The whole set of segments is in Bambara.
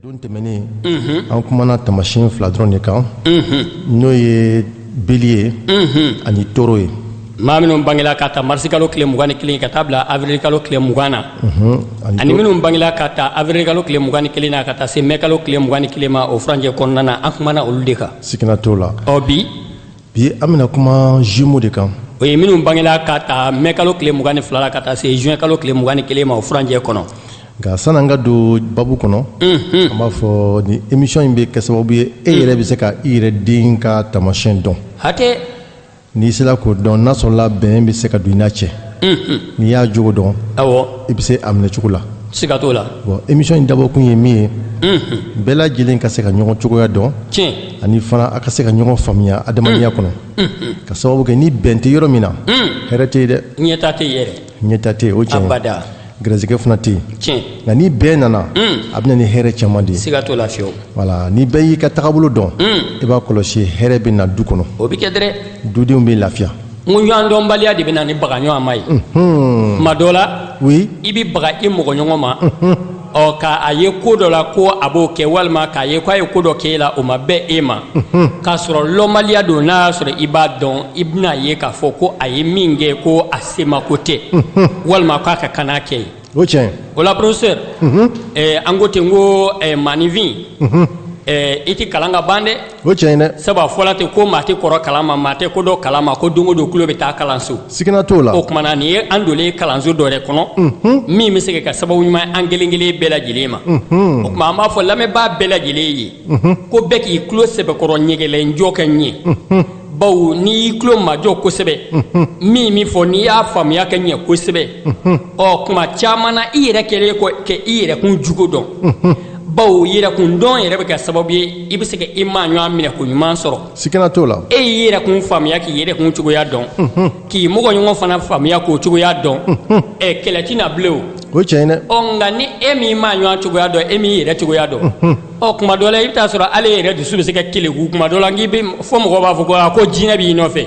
don tɛmɛnen an kumana tamasiyɛn fila dɔrɔn de kan n'o ye bélier ani taureau ye maa minnu bangela ka ta marisikalo tile mugan ni kelen ka taa bila avirilikalo tile mugan na ani minnu bangela ka ta avirilikalo tile mugan ni kelen na ka taa se mɛkalo tile mugan ni kelen ma o furanjɛ kɔnɔna na an kumana olu de kan sigina t'o la ɔ bi bi an bɛna kuma jumeau de kan o ye minnu bangela ka ta mɛ kalo tile mugan ni fila la ka taa se juin kalo tile mugan ni kelen ma o furanjɛ kɔnɔ nka sani an ka don baabu kɔnɔ mhm. an b'a fɔ ni emission in bɛ kɛ sababu ye e yɛrɛ bɛ se ka i yɛrɛ den ka taamasiyɛn dɔn hatɛ n'i sera k'o dɔn n'a sɔrɔla bɛn bɛ se ka don i n'a cɛ mhm. n'i y'a jogo dɔn awɔ i bɛ se a minɛ cogo la siga t'o la bon emission in dabɔkun ye min ye mhm. bɛɛ lajɛlen ka se ka ɲɔgɔn cogoya dɔn tiɲɛ ani fana a ka se ka ɲɔgɔn faamuya adamadenya kɔnɔ ka sababu kɛ ni bɛn tɛ yɔrɔ min na hɛrɛ tɛ yen dɛ ɲɛtaa tɛ yen yɛrɛ ɲɛtaa tɛ yen o tiɲɛ gɛrɛsɛgɛ fana tɛ yen nka ni bɛn nana a bɛ na ni hɛrɛ caman de ye siga t'o la fiyewu voilà ni bɛɛ y'i ka tagabolo dɔn i b'a kɔlɔsi hɛrɛ bɛ na du kɔnɔ o bɛ kɛ dɛrɛ dudenw bɛ lafiya n ko ɲɔgɔn dɔnbaliya de bɛ na ni baga ɲɔgɔn ma ye tuma dɔ la i bɛ baga i mɔgɔ ɲɔgɔn ma ɔ ka a ye ko dɔ la ko a b'o kɛ walima k'a ye ko a ye ko dɔ kɛ e la o ma bɛn e ma k'a sɔrɔ lɔnbaliya don n'a y'a sɔrɔ i b'a dɔn i bɛna a ye k'a fɔ ko a ye min kɛ ko a semako tɛ walima k'a ka kan n'a kɛ ye o tiɲɛ o la professeur an ko ten ko maaninfin i tɛ kalan ka ban dɛ o tiɲɛ dɛ sabu a fɔla ten ko maa tɛ kɔrɔ kalan ma maa tɛ kɔrɔ kalan ma ko don o don tulo bɛ taa kalanso sigina t'o la o kuma na nin ye an donnen kalanso dɔ yɛrɛ kɔnɔ min bɛ se ka kɛ sababu ɲuman an kelen kelen bɛɛ lajɛlen ma o tuma an b'a fɔ lamɛnbaa bɛɛ lajɛlen ye ko bɛɛ k'i tulo sɛbɛkɔrɔ ɲɛgɛlɛnjɔ ka ɲɛ bawo n'i y'i tulo majɔ kosɛbɛ min min fɔ n'i y'a faamuya ka ɲɛ kosɛbɛ ɔ tuma caman na i yɛrɛ kɛlen kɔ ka i yɛrɛkun jogo dɔn bawo yɛrɛkun dɔn yɛrɛ bɛ kɛ sababu ye i bɛ se ka i maa ɲɔgɔn minɛko ɲuman sɔrɔ sikana t'o la e y'i yɛrɛkun faamuya k'i yɛrɛkun cogoya dɔn k'i mɔgɔ ɲɔgɔn fana faamuya k'o cogoya dɔn ɛ kɛlɛ tɛ na bilen o o tiɲɛ dɛ ɔ nka ni e m'i maa ɲɔgɔn cogoya dɔn e m'i yɛrɛ cogoya dɔn ɔ kuma dɔ la i bɛ t'a sɔrɔ ale yɛrɛ dusu bɛ se ka keleku kuma dɔ la n'i bɛ fɔ mɔgɔ b'a fɔ ko aa ko jinɛ b'i nɔfɛ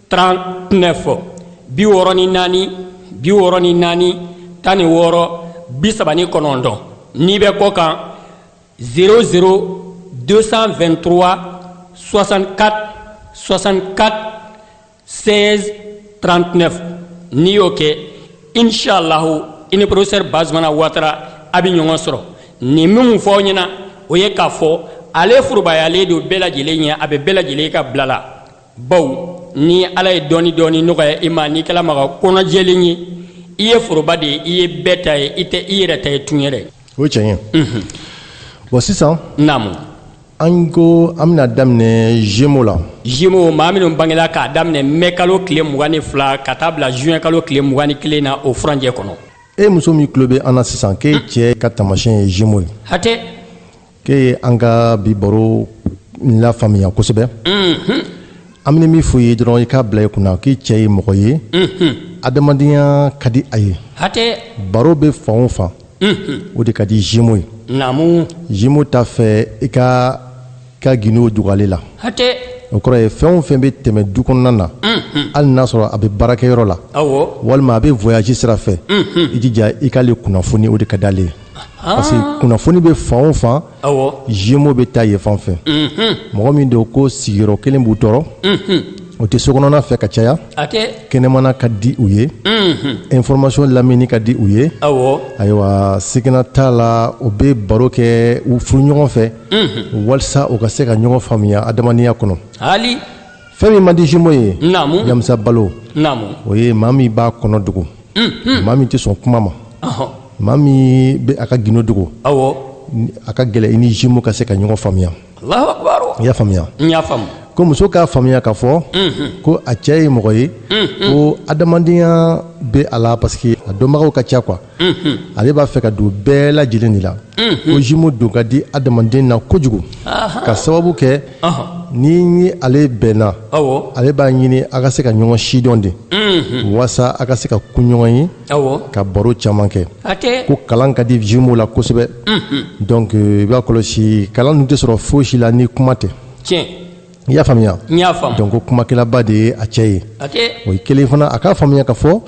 39 bi wɔɔrɔ ni naani bi wɔɔrɔ ni naani tan ni wɔɔrɔ bi saba ni kɔnɔntɔn n'i bɛ kɔkan 00 223 64 64 16 39 n'i y'o kɛ inshallahu i ni professeur bazumana watara a bɛ ɲɔgɔn sɔrɔ nin minnu fɔ aw ɲɛna o ye k'a fɔ ale forobayalen don bɛɛ lajɛlen ye a bɛ bɛɛ lajɛlen ka bila la bawo ni ala ye dɔɔni dɔɔni nɔgɔya i ma n'i kɛla maga kɔnɔjɛlen ye i ye foroba de ye i ye bɛɛ ta ye i tɛ i yɛrɛ ta ye tun yɛrɛ o ye tiɲɛ ye bon sisan naamu an ko an bɛna daminɛ gémeaux la gémeaux maa minnu bangela k'a daminɛ mɛ kalo tile mugan ni fila ka taa bila zuwɛn kalo tile mugan ni kelen na o furanjɛ kɔnɔ e muso min tulo bɛ an na sisan k'e cɛ ka taamasiyɛn ye gémeaux ye hatɛ k'e ye an ka bi baro lafaamuya kosɛbɛ an bɛ min fɔ i ye dɔrɔn i k'a bila i kunna k'i cɛ ye mɔgɔ ye adamadenya ka di a ye baro bɛ fan o fan o de ka di gémeaux ye gémeaux t'a fɛ i k'i ka gindo dogo ale la o kɔrɔ ye fɛn o fɛn bɛ tɛmɛ du kɔnɔna na hali n'a sɔrɔ a bɛ baarakɛyɔrɔ la walima a bɛ voyage sira fɛ i jija i k'ale kunnafoni o de ka d'ale ye parce que kunnafoni bɛ fan o fan jumeaux bɛ taa yen fan fɛ mɔgɔ min don ko sigiyɔrɔ kelen b'u tɔɔrɔ u tɛ sokɔnɔna fɛ ka caya kɛnɛmana ka di u ye information lamɛnni ka di u ye ayiwa sigana t'a la u bɛ baro kɛ u furuɲɔgɔn fɛ walasa u ka se ka ɲɔgɔn faamuya adamadenya kɔnɔ fɛn min man di jumeaux ye Yamusa Balo o ye maa min b'a kɔnɔ dogo. maa min tɛ sɔn kuma ma maa min bɛ a ka gindo dogo a ka gɛlɛn i ni jumeaux ka se ka ɲɔgɔn faamuya i y'a faamuya ko muso k'a faamuya k'a fɔ ko a cɛ ye mɔgɔ ye ko adamadenya bɛ a la parce que a dɔnbagaw ka ca quoi ale b'a fɛ ka don bɛɛ lajɛlen de la ko jumeaux don ka di adamaden na kojugu ka sababu kɛ ni ale bɛnna ale b'a ɲini a ka se ka ɲɔgɔn sidɔn de walasa a ka se ka kun ɲɔgɔn ye ka baro caman kɛ ko kalan ka di jumeaux la kosɛbɛ donc i b'a kɔlɔsi kalan dun tɛ sɔrɔ fosi la ni kuma tɛ i y'a faamuya donc ko kumakɛlaba de ye a cɛ ye o ye kelen fana a k'a faamuya k'a fɔ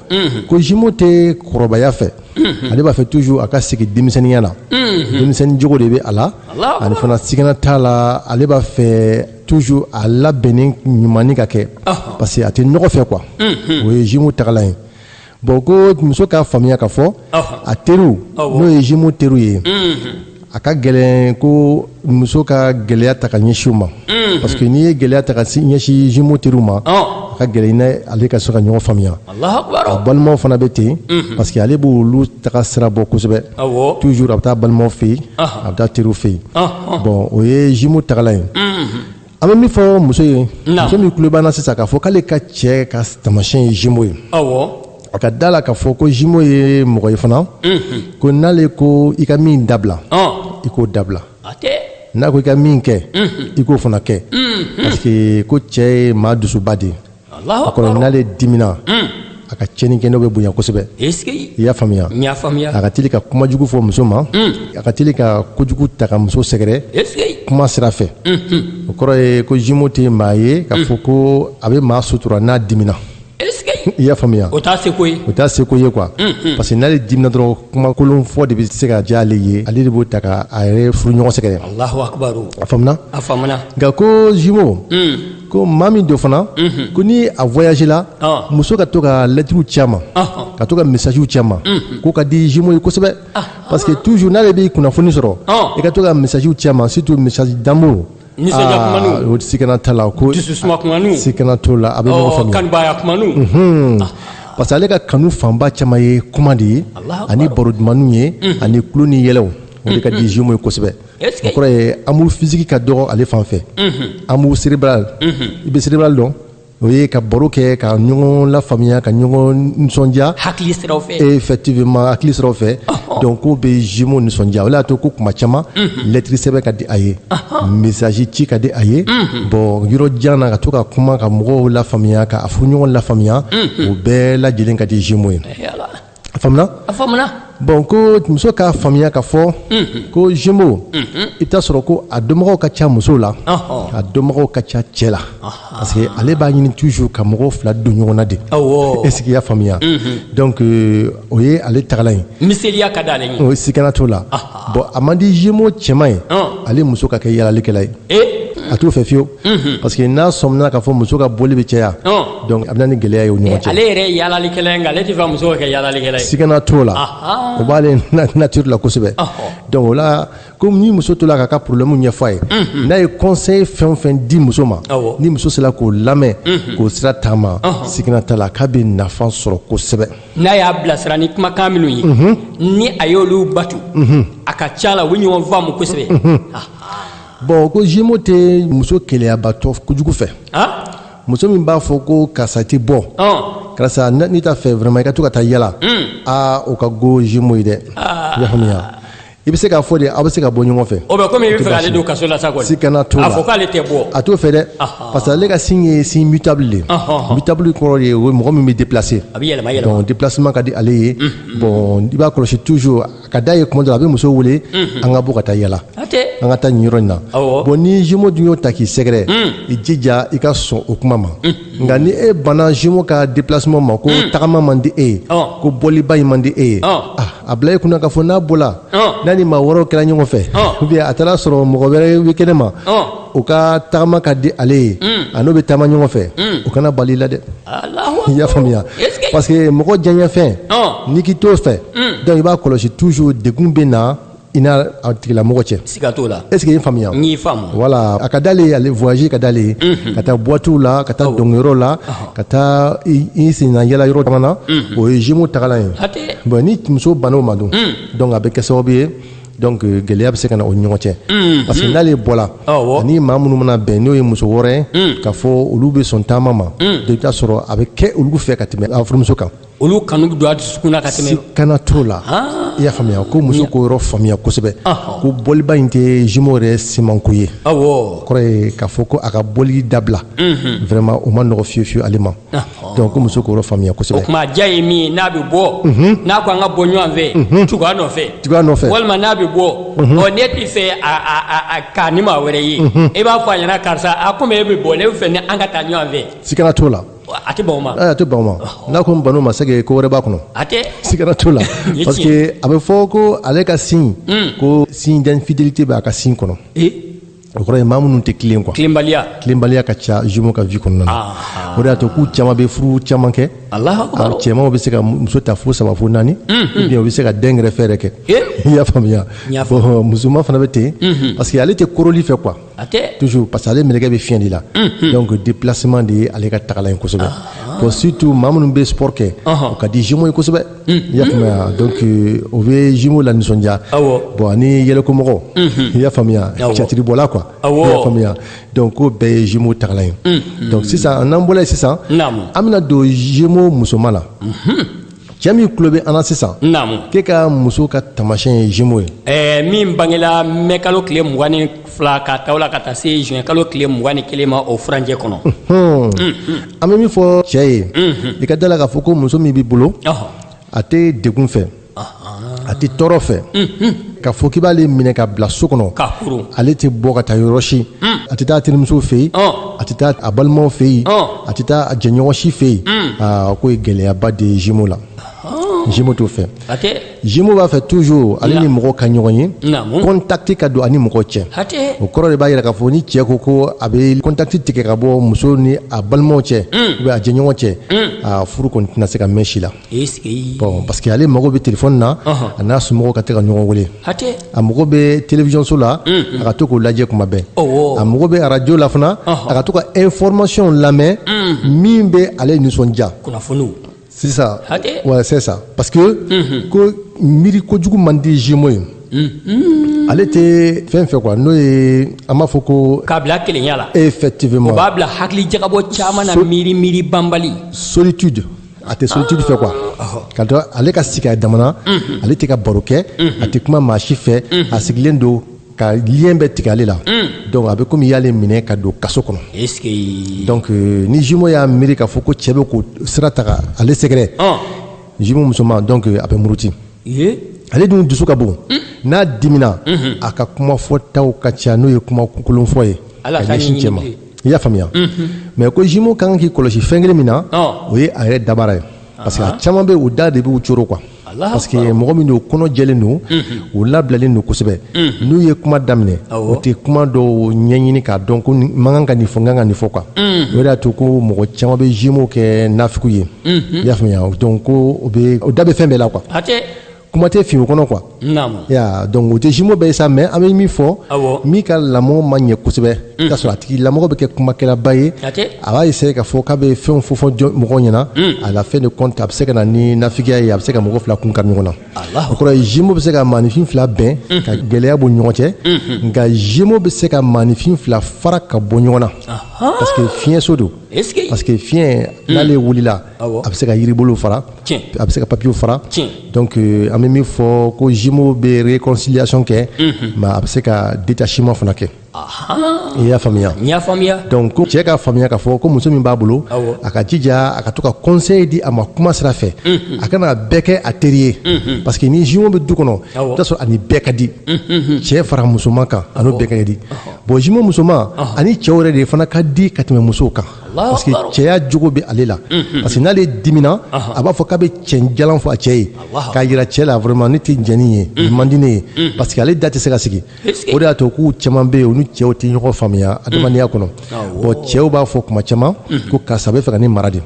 ko jumeaux tɛ kɔrɔbaya fɛ ale b'a fɛ toujours a ka sigi denmisɛnninya la denmisɛnnin jogo de bɛ a la ani fana sigana t'a la ale b'a fɛ toujours a labɛnnen ɲumannin ka kɛ parce que a tɛ nɔgɔ fɛ quoi o ye jumeaux tagalan ye bon ko muso k'a faamuya k'a fɔ a teriw n'o ye jumeaux teriw ye a ka gɛlɛn ko muso ka gɛlɛya ta ka ɲɛsin u ma parce que n'i ye gɛlɛya ta ka ɲɛsin jumeaux teriw ma a ka gɛlɛn ale ka se ka ɲɔgɔn faamuya a balimaw fana bɛ ten parce que ale b'olu taga sira bɔ kosɛbɛ toujours a bɛ taa balimaw fɛ yen a bɛ taa teriw fɛ yen bon o ye jumeaux tagalan ye an bɛ min fɔ muso ye muso min tulo b'an na sisan k'a fɔ k'ale ka cɛ ka taamasiyɛn ye jumeau ye a ka da la k'a fɔ ko jumeau ye mɔgɔ ye fana ko n'ale ko i ka min dabila i k'o dabila n'a ko i ka min kɛ i k'o fana kɛ parce que ko cɛ ye maa dusuba de ye a kɔrɔ n'ale dimina hmm. a ka cɛni kɛ n'o bɛ bonya kosɛbɛ i y'a faamuya a ka teli ka kuma jugu fɔ muso ma hmm. a ka teli ka kojugu ta ka muso sɛgɛrɛ kuma sira fɛ hmm, o kɔrɔ ye ko jumeau tɛ maa ye k'a fɔ ko a bɛ maa sutura n'a dimina i y'a faamuya o t'a seko ye o t'a seko ye quoi mm, mm. parce que n'ale dimina dɔrɔn kuma kolon fɔ de bɛ se ka diya ale ye ale de b'o ta ka a yɛrɛ furuɲɔgɔn sɛgɛrɛ alahu akubaru a faamuna a faamuna nka ko jumeau mm. ko maa min don fana ko ni a voyage la muso ka to ka lɛtiriw ci a ma ka to ka messagew ci a ma k'o ka di jumeau ye kosɛbɛ parce que toujours n'ale b'i kunnafoni sɔrɔ i ka to ka messagew ci a ma surtout message d'amour o sigana t'a la ko sigana t'o la a bɛ ɲɔgɔn faamuya parce que ale ka kanu fanba caman ye kuma de ye ani baro dumanw ye ani tulon ni yɛlɛ o de ka di jumeau ye kosɛbɛ o kɔrɔ ye amour physique ka dɔgɔ ale fan fɛ amour cérébral i bɛ cérébral dɔn o ye ka baro kɛ ka ɲɔgɔn lafaamuya ka ɲɔgɔn nisɔndiya hakili siraw fɛ effectivement hakili siraw fɛ donc k'o bɛ jumeau nisɔndiya o de y'a to ko kuma caman lɛtiri sɛbɛn ka di a ye message ci ka di a ye bon yɔrɔ jan na ka to ka kuma ka mɔgɔw lafaamuya ka a furuɲɔgɔn lafaamuya o bɛɛ lajɛlen ka di jumeau ye a faamuna a faamuna bon ko muso k'a faamuya k'a fɔ ko jumeau i bɛ taa sɔrɔ ko a dɔnbagaw ka ca muso la a dɔnbagaw ka ca cɛ la parce que ale b'a ɲini toujours ka mɔgɔw fila don ɲɔgɔn na de est ce que i y'a faamuya donc o ye ale tagalan ye miseliya ka d'ale ye o sigana t'o la. bon a man di jumeau cɛman ye ale muso ka kɛ yaalalikɛla ye a t'o fɛ fiyewu parce que n'a sɔmina k'a fɔ muso ka bɔli bɛ caya donc a bɛ na ni gɛlɛya ye u ɲɔgɔn cɛ ale yɛrɛ ye yaalalikɛla ye nka ale t'a fɛ muso ka kɛ yaalalikɛla ye sigana t'o la o b'ale nature la kosɛbɛ donc o la ko ni muso to la k'a ka problème ɲɛfɔ a ye n'a ye conseil fɛn o fɛn di muso ma ni muso sera k'o lamɛn k'o sira taama sigana t'a la k'a bɛ nafa sɔrɔ kosɛbɛ n'a y'a bilasira ni kumakan minnu ye ni a y'olu batu a ka ca la u bɛ ɲɔgɔn faamu kosɛbɛ bon ko jumeau tɛ muso keleyabatɔ kojugu fɛ muso min b'a fɔ ko karisa tɛ bɔ karisa ne t'a fɛ vraiment i ka to ka taa yala aa o ka go jumeau ye dɛ i y'a faamuya i bɛ se k'a fɔ de aw bɛ se ka bɔ ɲɔgɔn fɛ. o bɛ komi i bɛ fɛ k'ale don kaso la sa kɔni. sikana t'o la a fɔ k'ale tɛ bɔ. a t'o fɛ dɛ. parce que ale ka signe ye signe mutable de ye. mutable kɔrɔ de ye o ye mɔgɔ min bɛ déplacer. a bɛ yɛlɛma yɛlɛma donc déplacement ka di ale ye. bon i b'a kɔlɔsi toujours a ka d'a ye tuma dɔ la a bɛ muso wele. an ka bɔ ka taa yala. an ka taa nin yɔrɔ in na. awɔ bon ni jumeau dun y'o ta k'i sɛgɛrɛ. i jija i ka sɔn o kuma ma. nka ni e banna jumeau ka déplacement ma ko hmm. tagama man di e ye oh. ko bɔliba in man di e ye oh. ah, a bila e kunna k'a fɔ n'a bɔla oh. n'a ni maa wɛrɛw kɛra ɲɔgɔn fɛ ou bien a taara sɔrɔ mɔgɔ wɛrɛ bɛ kɛnɛ ma o ka tagama ka di ale ye hmm. a n'o bɛ taama ɲɔgɔn fɛ hmm. o kana bal'i la dɛ i y'a faamuya parce que mɔgɔ diyaɲɛfɛn n'i k'i t'o fɛ donc i b'a kɔlɔsi toujours degun bɛ na i n'a tigilamɔgɔ cɛ siga t'o la est ce que i y'a faamuya n y'i faamu voilà a ka d'ale ye ale voyage ka d'ale ye ka taa boîtew la ka taa dɔnkɛyɔrɔ la ka taa i senna yala yɔrɔ caman na o ye jumeau tagalan ye bon ni muso banna o ma dun donc a bɛ kɛ sababu ye donc euh, gɛlɛya bɛ se ka na o ɲɔgɔn cɛ mm-hmm. parce que n'ale bɔla ani maa minnu mana bɛn n'o ye muso wɛrɛw ye mm. k'a fɔ olu bɛ sɔn taama ma mm. i bɛ taa sɔrɔ a bɛ kɛ olu fɛ ka tɛmɛ a furumuso kan olu kanu bɛ don a dusukun na ka tɛmɛ sikana t'o la ah. i y'a faamuya ko muso k'o yɔrɔ faamuya kosɛbɛ ko bɔliba in tɛ jumeau yɛrɛ simanko ye o kɔrɔ ye k'a fɔ ko a ka bɔli dabila mhm. vraiment o ma nɔgɔ fiyewu fiyewu ale ma donc ko muso k'o yɔrɔ faamuya kosɛbɛ o tuma a diya ye min ye n'a bɛ bɔ mhm. n'a ko an ka bɔ ɲɔgɔn fɛ mhm. tugu a nɔfɛ tugu a nɔfɛ walima n'a bɛ bɔ ɔ n'e t'a fɛ a k'a ni maa wɛrɛ ye e b'a fɔ a ɲɛna karisa a komi e bɛ bɔ ne bɛ fɛ ni an ka taa ɲɔgɔn fɛ sikana t'o la a tɛ ban o ma a tɛ ban o ma n'a ko n ban o ma c'est que ko wɛrɛ b'a kɔnɔ a sikana t'o la parce que a bɛ fɔ ko ale ka signe hmm. ko signe d'infidélité bɛ a ka signe kɔnɔ o kɔrɔ ye maa minnu tɛ tilen quoi tilenbaliya tilenbaliya ka ca jumeau ka vie kɔnɔna na ah, ah. o de y'a to k'u caman bɛ furu caman kɛ cɛmanw bɛ se ka muso ta fo saba fo naani mm-hmm. ou bien u bɛ se ka den gɛrɛfɛ yɛrɛ kɛ eh? i y'a faamuya musoman fana bɛ ten mm-hmm. parce que ale tɛ koroli fɛ quoi toujours parce que ale mɛlɛkɛ bɛ fiɲɛ de la donc déplacement de ye ale ka tagalan ye kosɛbɛ bon surtout maa minnu bɛ sport kɛ o ka di jumeaux ye kosɛbɛ i y'a faamuya donc o bɛ jumeaux lanisɔndiya bon ani yɛlɛkomɔgɔ i y'a faamuya cɛtiribɔla quoi i y'a faamuya donc k'o bɛɛ ye jumeaux tagalan ye donc sisan n'an bɔra yen sisan an bɛna don jumeaux musoman na. cɛ min tulo bɛ an na sisan naamu k'e ka muso ka taamasiyɛn ye jumeau ye ɛɛ min bangela mɛ kalo tile mugan ni fila ka taa o la ka taa se juin kalo tile mugan ni kelen ma o furancɛ kɔnɔ an bɛ min fɔ cɛ ye i ka da a la k'a fɔ ko muso min b'i bolo a tɛ degun fɛ a tɛ tɔɔrɔ fɛ ka fɔ k'i b'ale minɛ ka bila so kɔnɔ ale tɛ bɔ ka taa yɔrɔ si a tɛ taa a terimuso fɛ yen a tɛ taa a balimaw fɛ yen a tɛ taa a jɛɲɔgɔn si fɛ yen aa k'o ye gɛlɛyaba de ye jumeau la jumeau t'o fɛ jumeau b'a fɛ toujours ale ni mɔgɔ ka ɲɔgɔn ye contact ka don ani mɔgɔ cɛ o kɔrɔ de b'a jira k'a fɔ ni cɛ ko ko a bɛ contact tigɛ ka bɔ muso ni a balimaw cɛ ou bien a jɛɲɔgɔn cɛ aa furu kɔni tɛna se ka mɛn si la Bon parce que ale mago bɛ téléphone na a n'a somɔgɔw ka to ka ɲɔgɔn weele a mago bɛ télévision so la a ka to k'o lajɛ kuma bɛɛ a mago bɛ radio la fana a ka to ka information lamɛn min bɛ ale nisɔndiya c'est ça ouais c'est ça parce que ko miiri kojugu man di jumeau ye ale tɛ fɛn fɛ quoi n'o ye an b'a fɔ ko k'a bila kelenya la effectivement o b'a bila hakili jagabɔ caman na miiri miiri banbali solitude a tɛ solitude fɛ quoi k'a dɔn ale ka sigi a damana ale tɛ ka baro kɛ a tɛ kuma maa si fɛ a sigilen don ka lien bɛɛ tigɛ ale la donc a bɛ komi i y'ale minɛ ka don kaso kɔnɔ donc euh, ni jumeau y'a miiri k'a fɔ ko cɛ bɛ k'o sira ta ka ale sɛgɛrɛ jumeau musoman donc euh, a bɛ muruti ale dun dusu ka bon n'a dimina a ka kuma fɔtaw ka ca n'o ye kuma kolonfɔ ye ka ɲɛsin cɛ ma i y'a faamuya mais ko jumeau ka kan k'i kɔlɔsi fɛn kelen min na o ye a yɛrɛ dabara ye parce que a caman bɛ u da de b'u coro quoi parce que mɔgɔ min don kɔnɔ jɛlen don u labilalen don kosɛbɛ n'u ye kuma daminɛ u tɛ kuma dɔw ɲɛɲini k'a dɔn ko n man kan ka nin fɔ n ka kan ka nin fɔ quoi o de y'a to ko mɔgɔ caman bɛ jumeau kɛ nafigiw ye i y'a faamuya donc ko u da bɛ fɛn bɛɛ la quoi kuma tɛ fin u kɔnɔ quoi ya donc o tɛ jumeau bɛɛ ye sa mais an bɛ min fɔ min ka lamɔ ma ɲɛ kosɛbɛ mm. k'a sɔrɔ a tigi lamɔgɔ bɛ kɛ kumakɛlaba ye a b'a essayer k'a fɔ k'a bɛ fɛnw fɔ fɔ mɔgɔw ɲɛna mm. à la fin de compte a bɛ se ka na ni nafigiya ye a bɛ se ka mɔgɔ fila kun kari ɲɔgɔn na o kɔrɔ ye jumeau bɛ se ka maanifin fila bɛn mm-hmm. ka gɛlɛya bɔ u ɲɔgɔn cɛ mm-hmm. nka jumeau bɛ se ka maanifin fila fara ka bɔ ɲɔgɔn na parce que fiɲɛso don parce que fiɲɛ n'ale wulila a bɛ se ka yiribolo fara a bɛ se ka papier fara donc an bɛ min fɔ ko jumeau bɛ réconciliation kɛ mais a bɛ se ka détachement fana kɛ i y'a faamuya donc ko cɛ ka faamuya k'a fɔ ko muso min b'a bolo a ka jija a ka to ka conseil di a ma kuma sira fɛ a kana bɛɛ kɛ a teri ye parce que ni jumeau bɛ du kɔnɔ o sɔrɔ a ni bɛɛ ka di cɛ fara musoman kan a ni bɛɛ ka di bon jumeau musoman a ni cɛw yɛrɛ de fana ka di ka tɛmɛ musow kan parce que cɛya jogo bɛ ale la parce que n'ale dimina a b'a fɔ k'a bɛ cɛn jalan fɔ a cɛ ye k'a yira cɛ la vraiment ne tɛ jɛn ni ye nin man di ne ye parce que ale da tɛ se ka sigi o de y'a to k'u caman bɛ yen u ni cɛw tɛ ɲɔgɔn faamuya adamadenya kɔnɔ bon cɛw b'a fɔ kuma caman ko karisa bɛ fɛ ka ne mara de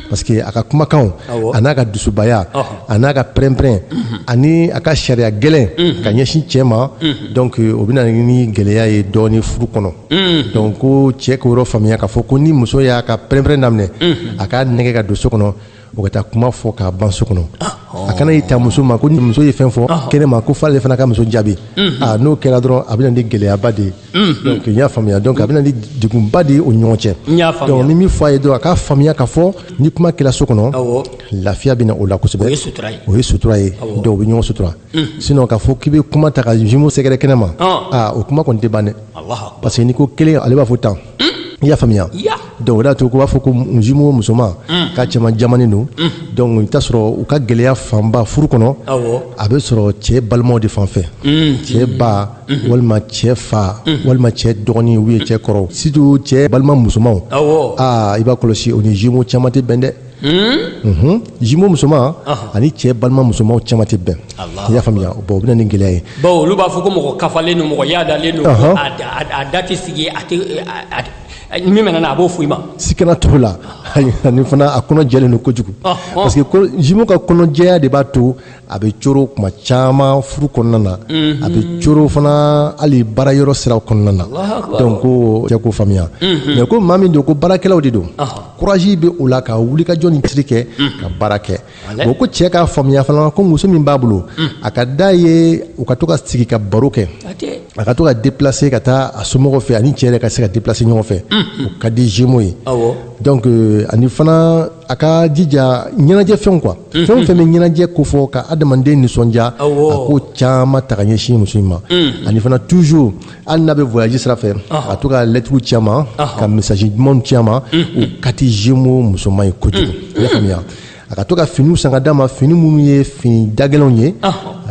parce que a ka kumakanw a n'a ka dusubaya a n'a ka pɛrɛn-pɛrɛn ani a ka sariya gɛlɛn ka ɲɛsin cɛ ma donc o bɛ na ni gɛlɛya ye dɔɔnin furu kɔnɔ Mm. Donc ko cɛ k'o yɔrɔ faamuya k'a fɔ ko ni muso y'a ka pɛrɛn-pɛrɛn daminɛ mm. a k'a nɛgɛ ka don so kɔnɔ o ka taa kuma fɔ k'a ban so kɔnɔ ah, oh. a kana y'i ta muso ma ko ni muso ye fɛn fɔ ah. kɛnɛ ma ko f'ale fana ka muso jaabi mm-hmm. ah, n'o kɛra dɔrɔn a bɛna ni gɛlɛyaba de ye mm-hmm. donc n y'a faamuya donc a bɛna ni degunba de ye u ni ɲɔgɔn cɛ donc ni min fɔ a ye dɔrɔn a k'a faamuya k'a fɔ ni kuma kɛra so kɔnɔ lafiya bɛna o la kosɛbɛ o ye sutura ye donc u bɛ ɲɔgɔn sutura sinon k'a fɔ k'i bɛ kuma ta ka jumeau sɛgɛrɛ kɛnɛ ma o kuma kɔni tɛ ban dɛ parce que n'i ko kelen ale b'a fɔ tan i y'a faamuya donc o de y'a to u b'a fɔ ko jumeau musoman k'a cɛman jamanen don donc i t'a sɔrɔ u ka gɛlɛya fanba furu kɔnɔ a bɛ sɔrɔ cɛ balimaw de fan fɛ cɛ ba walima cɛ fa walima cɛ dɔgɔnin ou bien cɛ kɔrɔ surtout cɛ balima musomanw i b'a kɔlɔsi o ni jumeau caman tɛ bɛn dɛ jumeau musoman ani cɛ balima musomanw caman tɛ bɛn i y'a faamuya bon o bɛna ni gɛlɛya ye bon olu b'a fɔ ko mɔgɔ kafalen don mɔgɔ yaadalen don a da tɛ sigi a tɛ min mana na a b'o fɔ i ma sikana t'o la ani fana a kɔnɔ jɛlen don kojugu parce que jumeau ka kɔnɔjɛya de b'a to a bɛ coro kuma caman furu kɔnɔna na a bɛ coro fana hali baara yɔrɔ sira kɔnɔna na donc ko cɛ k'o faamuya mais ko maa min don ko baarakɛlaw de don courage bɛ o la ka wulikajɔ ni tiri kɛ ka baara kɛ bon ko cɛ k'a faamuya fana ko muso min b'a bolo a ka d'a ye u ka to ka sigi ka baro kɛ a ka to ka déplacer ka taa a somɔgɔw fɛ ani cɛ yɛrɛ ka se ka déplacer ɲɔgɔn fɛ o ka di jumeau ye donc ani fana a ka jija ɲɛnajɛfɛnw quoi fɛn o fɛn bɛ ɲɛnajɛ ko fɔ ka adamaden nisɔndiya a ko caman ta ka ɲɛsin muso in ma ani fana toujours hali n'a bɛ voyage sira fɛ a to ka lɛtiriw ci a ma ka message dumanw ci a ma o ka di jumeau musoman ye kojugu i y'a faamuya a ka to ka finiw san ka d'a ma fini minnu ye fini dagɛlɛnw ye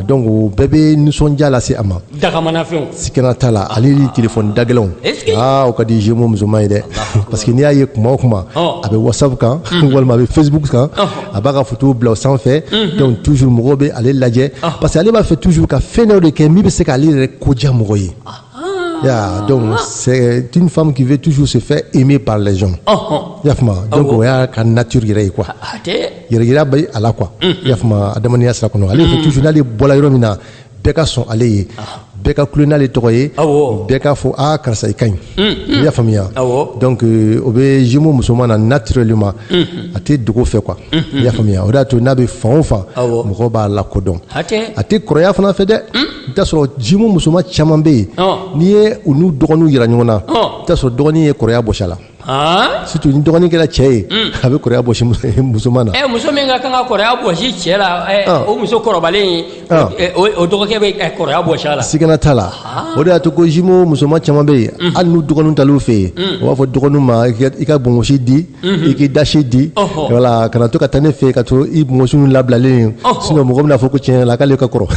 donc o bɛɛ bɛ nisɔndiya lase a ma dagamanafɛnw sikana t'a la ale ni telefɔni dagɛlɛnw aa o ka di jumeau musoman ye dɛ parce que n'i y'a ye kuma o kuma a bɛ whatsapp kan walima a bɛ facebook kan a b'a ka futu bila sanfɛ dɔnku tuuru mɔgɔw bɛ ale lajɛ parce que ale b'a fɛ tuuru ka fɛn dɔ de kɛ min bɛ se k'ale yɛrɛ koja mɔgɔ ye dɔnku sɛ tu famu k'i bɛ tusu senfɛ e min pa lajɛ ya o y'a ka nauru yɛrɛ ye kuwa yɛrɛgira bɛ ala qu ya adamadenya sa kɔnɔ ale tusu'ale bɔra yɔrɔ min na bɛɛ ka sɔn ale ye bɛɛ ka kulo n'ale tɔgɔ ye bɛɛ k'a fɔ aa karisa i ka ɲi mm, mm. i y'a faamuya donc euh, o bɛ jumeau musoman na naturellement mm-hmm. a tɛ dogo fɛ quoi mm-hmm. i y'a faamuya o de y'a to n'a bɛ fan o fan mɔgɔw b'a lakodɔn a tɛ kɔrɔya fana fɛ dɛ mm. i t'a sɔrɔ jumeau musoman caman bɛ yen n'i ye u n'u dɔgɔninw yira ɲɔgɔn na i t'a sɔrɔ dɔgɔnin ye kɔrɔya bɔsi a la Aa surtout ni dɔgɔnin kɛra cɛ ye a bɛ kɔrɔya bɔsi musoman na ɛ muso min ka kan ka kɔrɔya bɔsi cɛ la o muso kɔrɔbalen o dɔgɔkɛ bɛ kɔrɔya bɔsi a la sigana t'a la o de y'a to ko jumeau musoman caman bɛ yen hali n'u dɔgɔninw taal'u fɛ yen u b'a fɔ dɔgɔninw ma i ka bonmosi di i k'i dasi di voilà kana to ka taa ne fɛ yen ka to i bonmosi ninnu labilalen sinon mɔgɔ bɛn'a fɔ ko tiɲɛ la k'ale ka kɔrɔ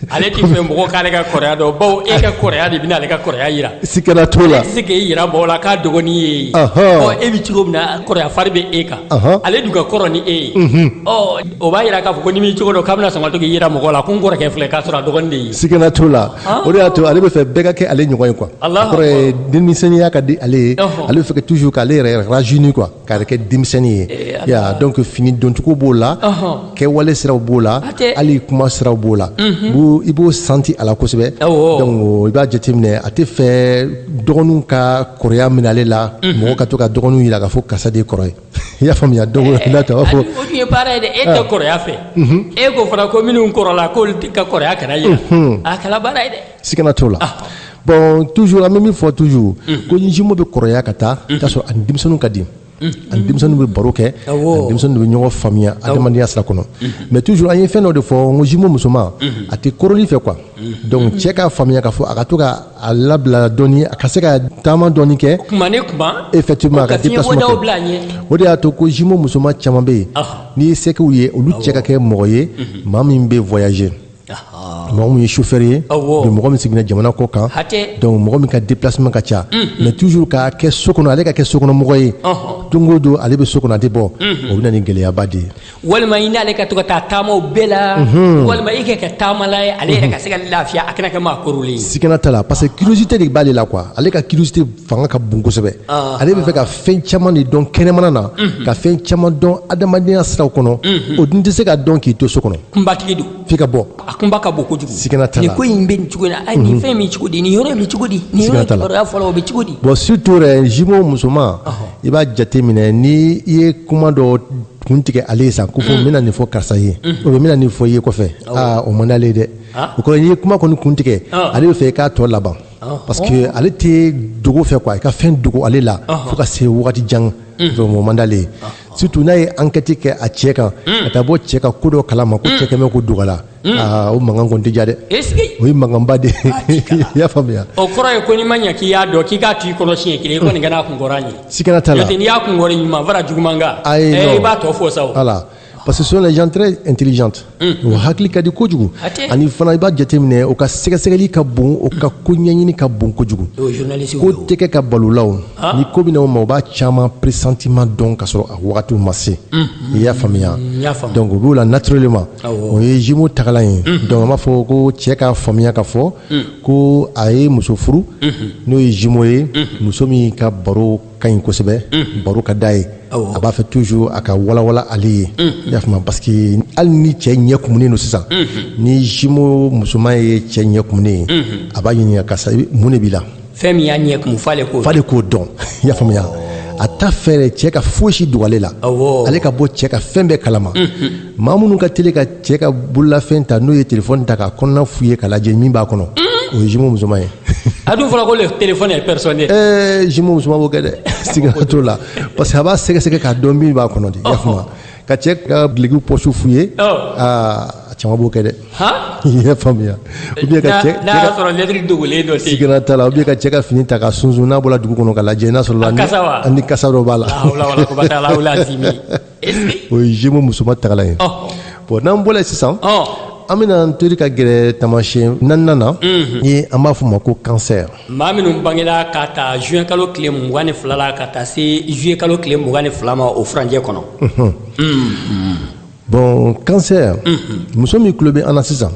Ale tɛ fɛ mɔgɔ k'ale ka kɔrɔya dɔn bawo e ka kɔrɔya de bɛna ale ka kɔrɔya yira sigana t'o la ale tɛ se k'e yira mɔgɔ la k'a dɔgɔnin ye e bɛ cogo min na kɔrɔya fari bɛ e kan ale dun ka kɔrɔ ni e ye o b'a yira k'a fɔ ko ni min cogo don k'a bɛna sɔn ka to k'i yira mɔgɔ la ko n kɔrɔkɛ filɛ k'a sɔrɔ dɔgɔnin sigana t'o la o de y'a to ale bɛ fɛ bɛɛ ka kɛ ale ɲɔgɔn ye quoi denmisɛnninya ka di ale ye ale bɛ fɛ toujours k'ale yɛrɛ rajeunir quoi K'a yɛrɛ kɛ denmisɛnnin ye donc fini doncogo b'o la kɛwale siraw b'o la hali kuma siraw b'o la i b'o sentir a la kosɛbɛ donc i b'a jateminɛ a tɛ fɛ dɔgɔninw ka kɔrɔya minɛ ale la mɔgɔ ka to ka dɔgɔninw yira k'a fɔ karisa de kɔrɔ ye i y'a faamuya donc n'a ta b'a fɔ o tun ye baara ye dɛ e tɛ kɔrɔya fɛ e ko fana ko minnu kɔrɔla k'olu ka kɔrɔya kana ye a kɛla baara ye dɛ sigana t'o la bon toujours an bɛ min fɔ toujours ko ni jumeau bɛ kɔrɔya ka taa i t'a sɔrɔ a ni denmisɛnninw ka di a ni denmisɛnninw bɛ baro kɛ Awɔ. a ni denmisɛnninw bɛ ɲɔgɔn faamuya adamadenya sira kɔnɔ mais toujours an ye fɛn dɔ de fɔ n ko jumeau musoman a tɛ koroli fɛ quoi donc cɛ k'a faamuya k'a fɔ a ka to ka a labila dɔɔni a ka se ka taama dɔɔni kɛ kuma ni kuma effectivement a ka ka fiɲɛ déplacement bɔdaw kɛ. bila a ɲɛ o de y'a to ko jumeau musoman caman bɛ yen Ɔhɔ. n'i ye sɛkiw ye olu cɛ ka kɛ mɔgɔ ye maa min bɛ voyager mɔgɔ min ye chauffeur ye mɔgɔ min sigilen jamana kɔ kan donc mɔgɔ min ka déplacement ka ca mais toujours ka kɛ so kɔnɔ ale ka kɛ sokɔnɔmɔgɔ ye don o don ale bɛ so kɔnɔ a tɛ bɔ o bɛ na ni gɛlɛyaba de ye walima i n'ale ka to ka taa taamaw bɛɛ la walima i ka kɛ taamala ye ale yɛrɛ ka se ka lafiya a kana kɛ maa korolen ye sigana t'a la parce que curiosité de b'ale la quoi ale ka curiosité fanga ka bon kosɛbɛ ale bɛ fɛ ka fɛn caman de dɔn kɛnɛmana na ka fɛn caman dɔn adamadenya siraw kɔnɔ o dun tɛ se ka dɔn k'i to so kɔnɔ kunbatigi don f'i ka bɔ a kunba ka bon kojugu Sigana t'a la. nin ko in bɛ nin cogo in na a nin fɛn in bɛ cogo di nin yɔrɔ in bɛ cogo di nin yɔrɔ Sigana in t'a la. kibaruya fɔlɔ o bɛ cogo di bon surtout yɛrɛ jumeau musoman i b'a jate minɛ ni i ye kuma dɔ kun tigɛ ale ye san ko fɔ n bɛna nin fɔ karisa ye o bɛ n bɛna nin fɔ i ye kɔfɛ aa o man d'ale ye dɛ Ah. o kɔrɔ n'i ye kuma kɔni kun tigɛ Ah. ale bɛ fɛ i k'a tɔ laban Ah. parce que ale tɛ dogo fɛ quoi i ka fɛn dogo ale la fo ka se wagati jan donc o man d'ale ye surtout n'a ye enquête kɛ a cɛ kan ka taa bɔ cɛ ka ko dɔ kalama ko cɛ kɛmɛ ko dogo a la o mankan kɔni tɛ diya dɛ o ye mankanba de i y'a faamuya o kɔrɔ ye ko n'i ma ɲɛ k'i y'a dɔn k'i k'a to i kɔnɔ siɲɛ kelen i kɔni ka n'a kun kɔrɔ ye sikana t'a la n'i y'a kun kɔrɔ ɲuman fara juguman kan ayi i b'a tɔ fɔ sa voilà parce que ce sont les gens très intelligents o hakili ka di kojugu ani fana i b'a jateminɛ o ka sɛgɛsɛgɛli ka bon o ka ko ɲɛɲini ka bon kojugu ko tɛ kɛ ka bala o la ni ko bɛna o ma o b'a caman pressentiment dɔn ka sɔrɔ a wagatiw ma se i y'a faamuya donc o b'o la naturellement o ye jumeau tagalan ye donc an b'a fɔ ko cɛ k'a faamuya ka fɔ ko a ye muso furu n'o ye jumeau ye muso min ka baro ka ɲi kosɛbɛ baro ka d'a ye a b'a fɛ toujours a ka walawala ale ye i y'a faamuya parce que hali ni cɛ ɲɛ kumunen don sisan ni jumeau musoman ye cɛ ɲɛ kumunen ye a b'a ɲininka karisa mun de b'i la fɛn min y'a ɲɛ kumu f'ale k'o dɔn i y'a faamuya a t'a fɛ cɛ ka foyisi dogo ale la ale ka bɔ cɛ ka fɛn bɛɛ kalama maa minnu ka teli ka cɛ ka bololafɛn ta n'o ye telefɔni ta k'a kɔnɔna fouiller ka lajɛ min b'a kɔnɔ o ye jumeau musoman ye a dun fɔra ko le téléphone est personnel ɛɛ eh, jumeau musoman b'o kɛ dɛ sigana t'o la parce que a b'a sɛgɛsɛgɛ k'a dɔn min b'a kɔnɔ de i y'a faamu ka cɛ ka duloki pɔsiw fouiller aa a caman b'o kɛ dɛ i y'a faamuya ou bien ka cɛ n'a y'a sɔrɔ lettre dogolen dɔ tɛ yen sigana t'a la ou bien ka cɛ ka fini ta ka sunsun n'a bɔra dugu kɔnɔ ka lajɛ n'a sɔrɔla ni kasa dɔ b'a la o ye jumeau musoman tagalan ye bon n'an bɔla yen sisan an bɛna an tori ka gɛrɛ tamasiyɛn naaninan na mhm. ni an b'a fɔ ma ko kansɛr maa minnu bangela ka ta juin kalo tile mugan ni fila la ka taa se juillet kalo tile mugan ni fila ma o furanjɛ kɔnɔ mhm. Mhm. bon kansɛr muso min tulo bɛ an na sisan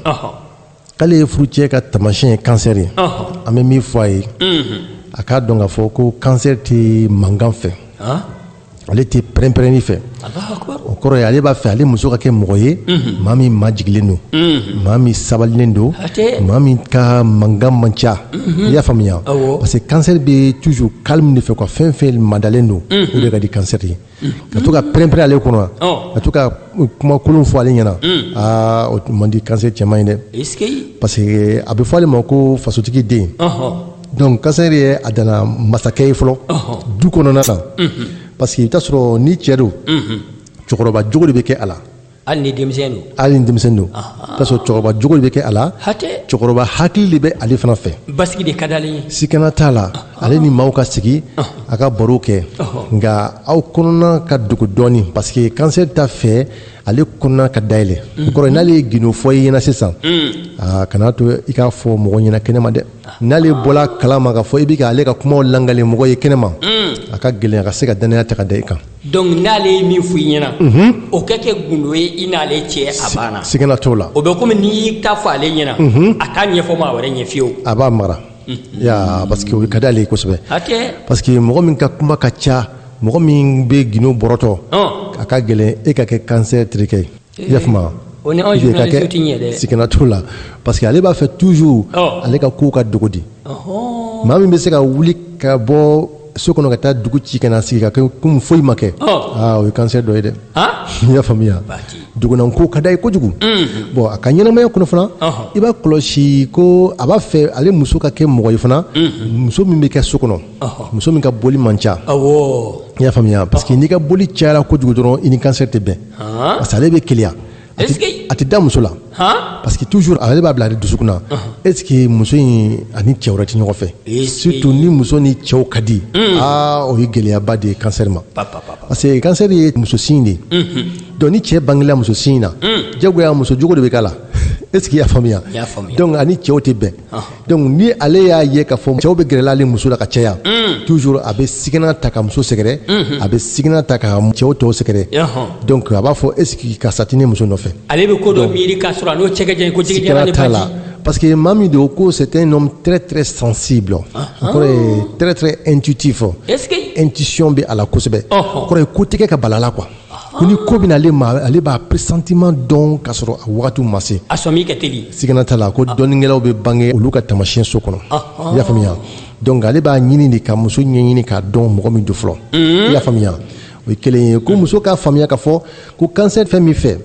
k'ale ye furucɛ ka tamasiyɛn ye kansɛri ye an bɛ min fɔ a ye a k'a dɔn k'a fɔ ko kansɛri tɛ mankan fɛ ale tɛ pɛrɛnpɛrɛnni fɛ o kɔrɔ ye ale b'a fɛ ale muso ka kɛ mɔgɔ ye maa min majiginlen don maa min sabalilen don maa min ka mankan man ca i y'a faamuya parce que kansɛri bɛ toujours calme de fɛ quoi fɛn fɛn madalen don o de ka di kansɛri ye ka to ka pɛrɛnpɛrɛn ale kɔnɔ ka to ka kumakolon fɔ ale ɲɛna aa o man di kansɛri cɛman ye dɛ parce que a bɛ fɔ ale ma ko fasotigi den donc kansɛri ye a danna masakɛ ye fɔlɔ du kɔnɔna na parce que i bɛ taa sɔrɔ ni cɛ don cɛkɔrɔba jogo de bɛ kɛ a la hali ni denmisɛn don i bɛ taa sɔrɔ cɛkɔrɔba jogo de bɛ kɛ a la cɛkɔrɔba hakili de bɛ ale fana fɛ basigi de ka d'ale ye sikana t'a la ale ni maaw ka sigi a ka baro kɛ nka aw kɔnɔna ka dogo dɔɔnin parce que kansɛri t'a fɛ ale kɔnɔna ka dayɛlɛ o kɔrɔ n'ale ye gindo fɔ i ɲɛna sisan kana to i k'a fɔ mɔgɔ ɲɛna kɛnɛma dɛ n'ale bɔla kalama ka fɔ i bɛ ka ale ka kumaw lakali mɔgɔ ye kɛnɛma a ka gɛlɛn a ka se ka dannaya ta ka da i kan Donc n'ale ye min fɔ i ɲɛna, unhun, o ka kɛ gundo ye i n'ale cɛ a banna, sigana t'o la, o bɛ komi n'i y'i ta fɔ ale ɲɛna, unhun, a t'a ɲɛfɔ maa wɛrɛ ɲɛ fiyewu, a b'a mara, unhun, ya parce que o ka d'ale ye kosɛbɛ, hatɛ, parce que mɔgɔ min ka kuma ka ca, mɔgɔ min bɛ gindo bɔrɔtɔ, ɔn, a ka gɛlɛn e ka kɛ cancer terikɛ ye. i y'a faamuya o ni anw Puisque ka journalistes tɛ ɲɛ dɛ. kɛ sigana t'o la parce que ale b'a fɛ toujours Ɔ. ale ka kow ka dogo de Ɔhɔn. maa min bɛ se ka wuli ka bɔ so kɔnɔ ka taa dugu ci ka na sigi ka kɛ komi foyi ma kɛ Ɔ. aa o ye cancer dɔ ye dɛ Han? i y'a faamuya Bati. dugunanko ka d'a ye kojugu bon a ka ɲɛnamaya kɔnɔ fana Ɔhɔ. i b'a kɔlɔsi ko a b'a fɛ ale muso ka kɛ mɔgɔ ye fana muso min bɛ kɛ so kɔnɔ Ɔhɔ. muso min ka boli man ca awɔ i y'a faamuya parce que n'i ka boli cayara kojugu dɔrɔn i ni cancer tɛ bɛn parce que ale bɛ keleya a tɛ da muso la parce que toujours ale b'a bila ale dusukun na est ce que muso in ani cɛ wɛrɛ tɛ ɲɔgɔn fɛ surtout ni muso ni cɛw ka di aa o ye gɛlɛyaba de ye cancer ma parce que cancer ye muso signe de ye donc ni cɛ bangela muso signe na diyagoya muso jogo de bɛ k'a la est ce que i y'a faamuya donc a ni cɛw tɛ bɛn donc ni ale y'a ye k'a fɔ cɛw bɛ gɛrɛla ale muso la ka caya mm. toujours a bɛ sigana ta ka muso sɛgɛrɛ mm-hmm. a bɛ sigana ta ka cɛw tɔw sɛgɛrɛ donc a b'a fɔ est ce que karisa tɛ ne muso nɔfɛ ale bɛ ko dɔ miiri k'a sɔrɔ a n'o cɛ ka jan ko jigijala ni baji parce que maa min don ko c'est un homme très très sensible ah, o kɔrɔ ye ah. très très intuitif est ce que intuition bɛ a la kosɛbɛ o kɔrɔ ye ko tɛ kɛ ka bal'a la quoi ko ni ko bɛ na ale ma ale b'a pressentiment dɔn k'a sɔrɔ a wagati ma se a sɔmi ka teli sigana t'a la ko ah. dɔnnikɛlaw bɛ bange olu ka taamasiyɛn so kɔnɔ ah, ah. i y'a faamuya donc ale b'a ɲini de ka muso ɲɛɲini k'a dɔn mɔgɔ min don fɔlɔ mm-hmm. i y'a faamuya o ye kelen ye ko muso k'a faamuya k'a fɔ ko cancer fɛn min fɛ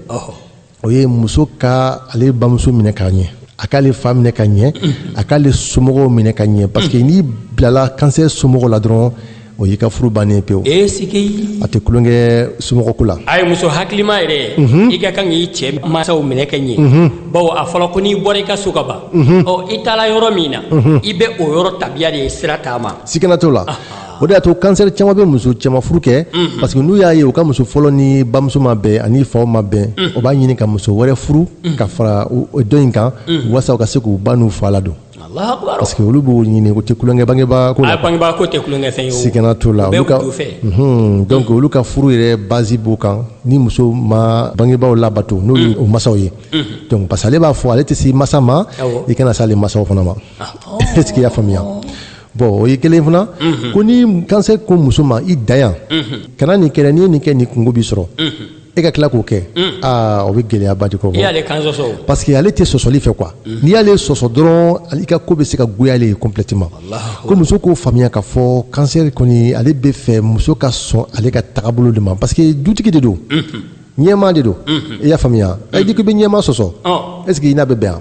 o ye muso ka ale bamuso minɛ ka ɲɛ a k'ale fa minɛ ka ɲɛ a k'ale somɔgɔw minɛ ka ɲɛ parce que n'i bilala cancer somɔgɔw la dɔrɔn o y'i ka furu bannen pewu ee sigi a tɛ tulonkɛ somɔgɔko la a ye muso hakilima yɛrɛ mhm. i ka kan k'i cɛ masaw minɛ ka ɲɛ mhm. bawo a fɔla ko n'i bɔra i ka so ka ban mhm. ɔ i taara yɔrɔ min na i bɛ o yɔrɔ tabiya de sira taama sigana t'o la o de y'a to cancer caman bɛ muso caman furu kɛ parce que n'u y'a ye u ka muso fɔlɔ ni bamuso ma bɛn ani faw ma bɛn o b'a ɲini ka muso wɛrɛ furu ka fara dɔ in kan walasa u ka se k'u ba n'u fa ladon parce que olu b'o ɲini k'o tɛ tulonkɛ bangebaa ko la bangebaa ko tɛ tulonkɛ fɛn ye sigana t'o la olu ka donc olu ka furu yɛrɛ base b'o kan ni muso ma bangebaaw labato n'o ye o masaw ye donc parce que ale b'a fɔ ale tɛ s'i masa ma i kana s'ale masaw fana ma est ce que i y'a faamuya Bon o ye kelen fana ko ni cancer ko muso ma i da yan kana nin kɛ n'i ye nin kɛ nin kungo b'i sɔrɔ e ka tila k'o kɛ aa o bɛ gɛlɛyaba de kɔ parce que ale tɛ sɔsɔli fɛ quoi n'i y'ale sɔsɔ dɔrɔn i ka ko bɛ se ka goya ale ye complètement ko muso k'o faamuya k'a fɔ cancer kɔni ale bɛ fɛ muso ka sɔn ale ka tagabolo de ma parce que dutigi de don ɲɛmaa de don i y'a faamuya ɛ n'i ko i bɛ ɲɛmaa sɔsɔ est ce que i n'a bɛ bɛn wa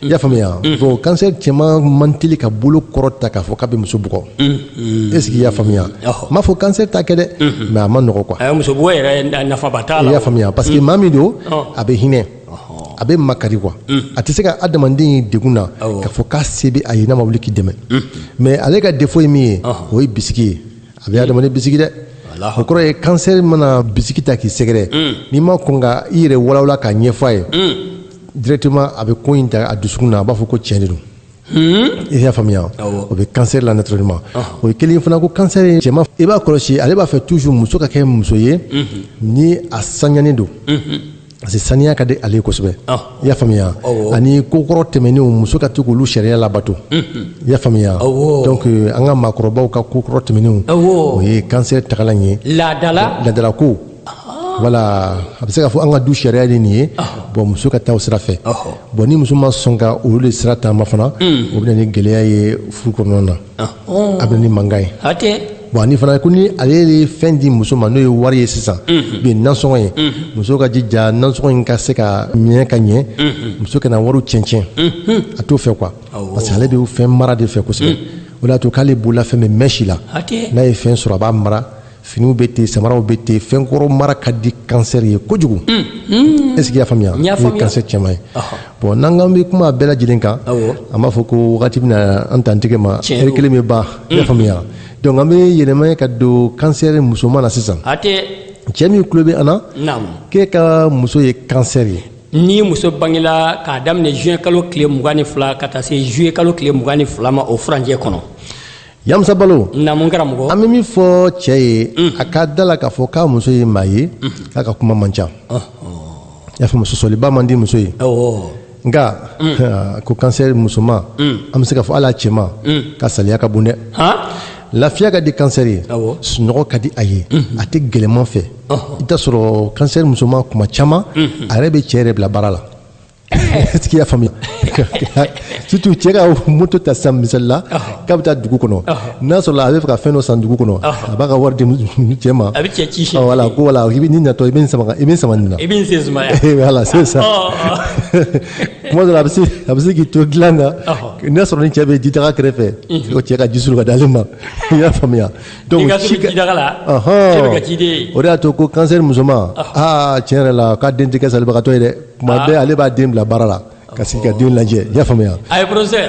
i y'a faamuya bon cancer cɛman man teli ka bolo kɔrɔta k'a fɔ k'a bɛ muso bugɔ est ce que i y'a faamuya n m'a fɔ cancer t'a kɛ dɛ mais a ma nɔgɔ quoi muso bugɔ yɛrɛ nafaba t'a la i y'a faamuya parce que maa min don a bɛ hinɛ a bɛ makari quoi a tɛ se ka adamaden ye degun na k'a fɔ k'a se bɛ a ye n'a ma wuli k'i dɛmɛ mais ale ka défaut ye min ye o ye bisigi ye a bɛ adamaden bisigi dɛ o kɔrɔ ye cancer mana bisigi ta k'i sɛgɛrɛ n'i ma kɔn ka i yɛrɛ walawala k'a ɲɛfɔ a ye directement a bɛ ko in ta a dusukun na a b'a fɔ ko tiɲɛ de don i y'a faamuya o bɛ cancer la naturellement o ye kelen fana ko cancer ye cɛman i b'a kɔlɔsi ale b'a fɛ toujours muso ka kɛ muso ye ni a saniyalen don parce que saniya ka di ale ye kosɛbɛ i y'a faamuya ani kokɔrɔ tɛmɛnenw muso ka to k'olu sariya labato i y'a faamuya donc an ka maakɔrɔbaw ka kokɔrɔ tɛmɛnenw o ye cancer tagalan ye laadala laadalako voilà a bɛ se k'a fɔ an ka du sariya de nin ye bon muso ka taa o sira fɛ bon ni muso ma sɔn ka olu de sira taama fana o bɛ na ni gɛlɛya ye furu kɔnɔna na a bɛ na ni mankan ye bon ani fana ko ni ale ye fɛn di muso ma n'o ye wari ye sisan bi nasɔngɔ ye muso k'a jija nasɔngɔ in ka se ka minɛ ka ɲɛ muso kana wari cɛncɛn a t'o fɛ quoi parce que ale bɛ fɛn mara de fɛ kosɛbɛ o y'a to k'ale bolola fɛn bɛ mɛn si la n'a ye fɛn sɔrɔ a b'a mara finiw bɛ ten samaraw bɛ ten fɛnkɔrɔ mara ka di cancer ye kojugu mm, mm. est ce que i y'a faamuya o ye cancer cɛman ye bon n'an k'an bɛ kuma bɛɛ lajɛlen kan an b'a fɔ ko wagati bɛna an dantigɛ ma heure kelen bɛ ban i y'a mm. faamuya donc an bɛ yɛlɛma ka don cancer musoman na sisan cɛ min tulo bɛ an na k'e ka muso ye cancer ye ni muso bangela k'a daminɛ juin kalo tile mugan ni fila ka taa se juillet kalo tile mugan ni fila ma o furancɛ kɔnɔ Yamusa Balo namu karamɔgɔ an bɛ min fɔ cɛ ye mm. a ka da la k'a fɔ k'a muso ye maa ye mm-hmm. k'a ka kuma man ca oh, oh. i y'a faamu sɔsɔliba man di muso ye nka mm. ko cancer musoman mm. an bɛ se k'a fɔ hali a cɛman ka saliya ka bon dɛ lafiya ka di cancer ye sunɔgɔ ka di a ye mm-hmm. a tɛ gɛlɛman fɛ i t'a sɔrɔ cancer musoman kuma caman mm-hmm. a yɛrɛ bɛ cɛ yɛrɛ bila baara la est-ce qu'i y'a faamuya surtout cɛ ka moto ta sisan misali la k'a bɛ taa dugu kɔnɔ n'a sɔrɔ a b'a fɛ ka fɛn dɔ san dugu kɔnɔ a b'a ka wari di cɛ ma a bɛ cɛ ci siyɛn voilà ko voilà i bɛ n'i natɔ i bɛ n sama i bɛ n sama nin na i bɛ n sen sumaya voilà c'est ça kuma dɔ la a bɛ se a bɛ se k'i to dilan kan n'a sɔrɔ ni cɛ bɛ jidaga kɛrɛfɛ ko cɛ ka ji suru ka d'ale ma i y'a faamuya donc i ka suru jidaga la cɛ bɛ kɛ ciden ye o de y'a to ko kansɛri musoman aa tiɲɛ yɛrɛ la k'a den tɛ kɛ salibagatɔ ye dɛ tuma bɛɛ ale b'a den bila baara la ka sigi ka den lajɛ i y'a faamuya a ye professeur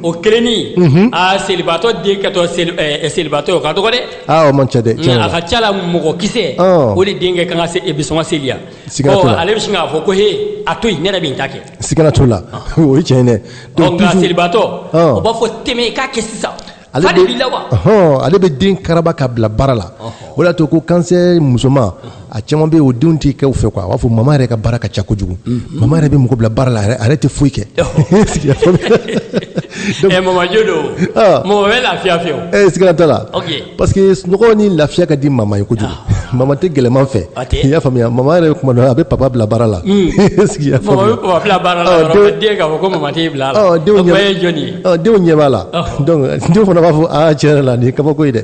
o kelenni aa selibaatɔ den kɛtɔ seli ɛɛ selibaatɔ ye o ka dɔgɔ dɛ aa o man ca dɛ tiɲɛ nka a ka ca la mɔgɔ kisɛ Ɔɔ. o de den kɛ kan ka se e bɛ sɔn ka seliya Siga t'o la. ale bɛ sin k'a fɔ ko he a to yen ne yɛrɛ bɛ n ta kɛ sigana t'o la o ye tiɲɛ ye dɛ ɔ nka toujours- selibaatɔ Ɔɔ. o b'a fɔ tɛmɛ i k'a kɛ sisan Ale ale bɛ den karaba ka bila baara la o de y'a to ko kansɛri musoman a caman bɛ o denw tɛ kɛ u fɛ quoi a b'a fɔ mama yɛrɛ ka baara ka ca kojugu mama yɛrɛ bɛ mɔgɔ bila baara la yɛrɛ tɛ foyi kɛ siga t'a la parce que sunɔgɔ ni lafiya ka di mama ye kojugu mama tɛ gɛlɛyaman fɛ i y'a faamuya mama yɛrɛ kuma dɔ a bɛ papa bila baara la denw ɲɛ b'a la donc denw fana b'a fɔ aa tiɲɛ yɛrɛ la nin ye kabako ye dɛ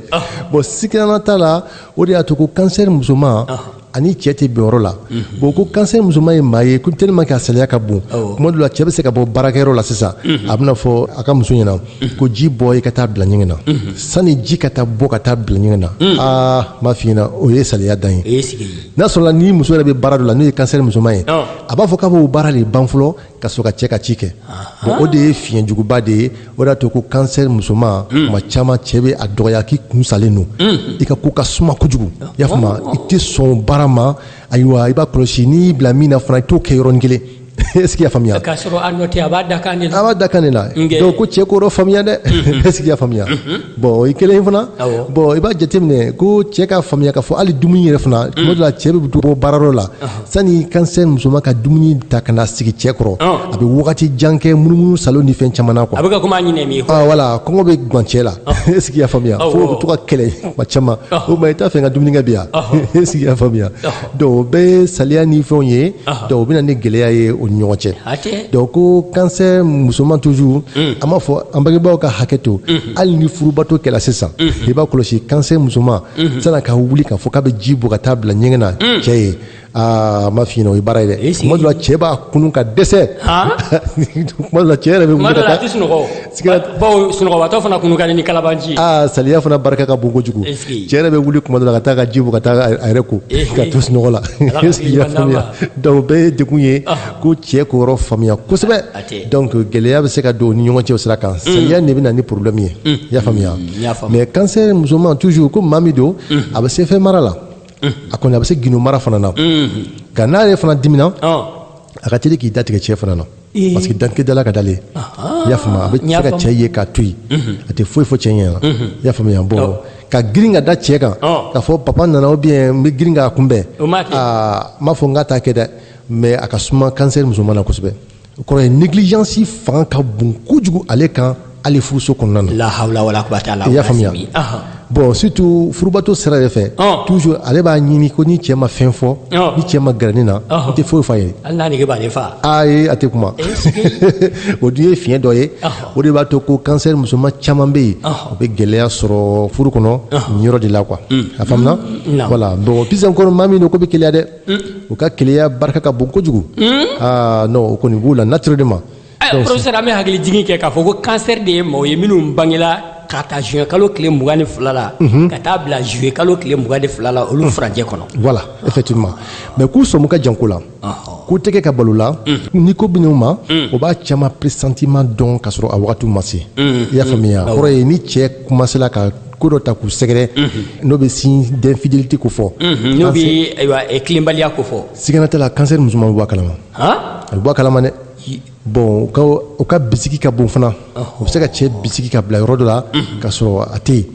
bon sigana t'a la o de y'a to ko kansɛri musoman ani cɛ tɛ bɛn yɔrɔ la mhm. bon ko kansɛri musoman ye maa ye ko tellement que a saliya ka bon tuma dɔ la cɛ bɛ se ka bɔ baarakɛyɔrɔ la sisan mhm. a bɛna fɔ a ka muso ɲɛna mhm. ko ji bɔ i ka taa bila ɲɛgɛn na sani ji ka taa bɔ ka taa bila ɲɛgɛn na aa n b'a f'i ɲɛna o ye saliya dan ye n'a sɔrɔla ni muso yɛrɛ bɛ baara dɔ la n'o ye kansɛri musoman ye a b'a fɔ k'a b'o baara de ban fɔlɔ ka sɔrɔ ka cɛ ka ci kɛ bon o de ye fiɲɛ juguba de ye o de y'a to ko kansɛri musoman hmm. tuma caman cɛ bɛ a dɔgɔya k'i kun salen don hmm. i ka ko ka suma kojugu i y'a faamuya i tɛ sɔn baara ma ayiwa i b'a kɔlɔsi n'i y'i bila min na fana i t'o kɛ yɔrɔnin kelen est-ce qu'i y'a faamuya k'a sɔrɔ a nɔ tɛ a b'a dakan de la a b'a dakan de la donc ko cɛ k'o yɔrɔ faamuya dɛ mhm. est-ce qu'i y'a faamuya mhm. bon o ye kelen ye fana bon i b'a jateminɛ ko cɛ k'a faamuya k'a fɔ hali dumuni yɛrɛ fana tuma dɔ la cɛ bɛ bɔ baarayɔrɔ la sani kansɛri musoman ka dumuni ta ka na sigi cɛ kɔrɔ a bɛ wagati jan kɛ munumunu salon ni fɛn caman na quoi a bɛ ka kuma ɲinɛ min ye ah, voilà kɔngɔ bɛ gan cɛ la est ce que i y'a faamuya fo u bɛ to ka kɛlɛ kuma caman o ma i t'a fɛ n ka dumuni kɛ bi yan est ce que i y'a faamuya donc o bɛɛ ye saliya ni fɛnw ye donc o bɛ na ni gɛlɛya ye o ni ɲɔgɔn cɛ donc ko kansɛri musoman toujours hmm. an b'a fɔ an bangebaaw ka hakɛ to hmm. hali ni furubato kɛla sisan hmm. i b'a kɔlɔsi kansɛri musoman unhun, san'a ka wuli k'a fɔ k'a bɛ ji bɔ ka taa bila ɲɛgɛn na mm. cɛ ye aa a ma f'i ɲɛna o ye baara ye dɛ tuma dɔ la cɛ b'a kunun ka dɛsɛ tuma dɔ la cɛ yɛrɛ bɛ wuli ka taa bawo sunɔgɔbatɔ fana kunun ka di ni kalabanci ye aa saliya fana barika ka bon kojugu cɛ yɛrɛ bɛ wuli tuma dɔ la ka taa ka ji bɔ ka taa a yɛrɛ ko k'a to sunɔgɔ la i y'a faamuya donc o bɛɛ ye degun ye ko cɛ k'o yɔrɔ faamuya kosɛbɛ donc gɛlɛya bɛ se ka don u ni ɲɔgɔn cɛ o sira kan saliya de bɛ na ni problème ye i y'a faamuya mais cancer musoman toujours ko maa min don a bɛ se fɛn mara la a kɔni a bɛ se gindo mara fana na nka n'a yɛrɛ fana dimina a ka teli k'i datigɛ cɛ fana na parce que dantigɛ dala ka d'ale i y'a faamuya a bɛ se ka cɛ ye k'a to yen a tɛ foyi fɔ cɛ ɲɛ na i y'a faamuya bon ka girin ka da cɛ kan k'a fɔ papa nana ou bien n bɛ girin k'a kunbɛn aa n m'a fɔ n k'a t'a kɛ dɛ mais a ka suma cancer musoman na kosɛbɛ o kɔrɔ ye négligence fanga ka bon kojugu ale kan hali furuso kɔnɔna na. la hawla wala quwata illa billah. i y'a faamuya bon surtout furubato sira de fɛ. toujours ale b'a ɲini ko ni cɛ ma fɛn fɔ. ni cɛ ma gɛrɛ ne na. n tɛ foyi f'a ye. hali n'a nege b'ale fa. ayi a tɛ kuma. o dun ye fiɲɛ dɔ ye. o de b'a to ko cancer musoman caman bɛ yen. u bɛ gɛlɛya sɔrɔ furu kɔnɔ nin yɔrɔ de la quoi. a faamuna. voilà bon puis encore maa min don k'u bɛ keleya dɛ. u ka keleya barika ka bon kojugu aa non o kɔni b'u la naturellement ayiwa professeur an bɛ hakili jigin kɛ k'a fɔ ko cancer de ye maaw ye minnu bangela ka ta juin kalo tile mugan ni fila la ka taa bila juillet kalo tile mugan ni fila la olu furancɛ kɔnɔ voilà effectivement mais k'u sɔmu ka jan ko la ko tɛ kɛ ka bal'u la ni ko bɛ n'u ma o b'a caman pressentiment dɔn k'a sɔrɔ a wagatiw ma se i y'a faamuya kɔrɔ ye ni cɛ commencera ka ko dɔ ta k'u sɛgɛrɛ n'o bɛ signe d'infidélité ko fɔ n'o bɛ ayiwa tilenbaliya ko fɔ sigana t'a la cancer musoman bɛ bɔ a kalama a bɛ bɔ a kalama dɛ bon u ka bisigi ka bon fana u bɛ se ka cɛ bisigi ka bila yɔrɔ dɔ la ka sɔrɔ a tɛ yen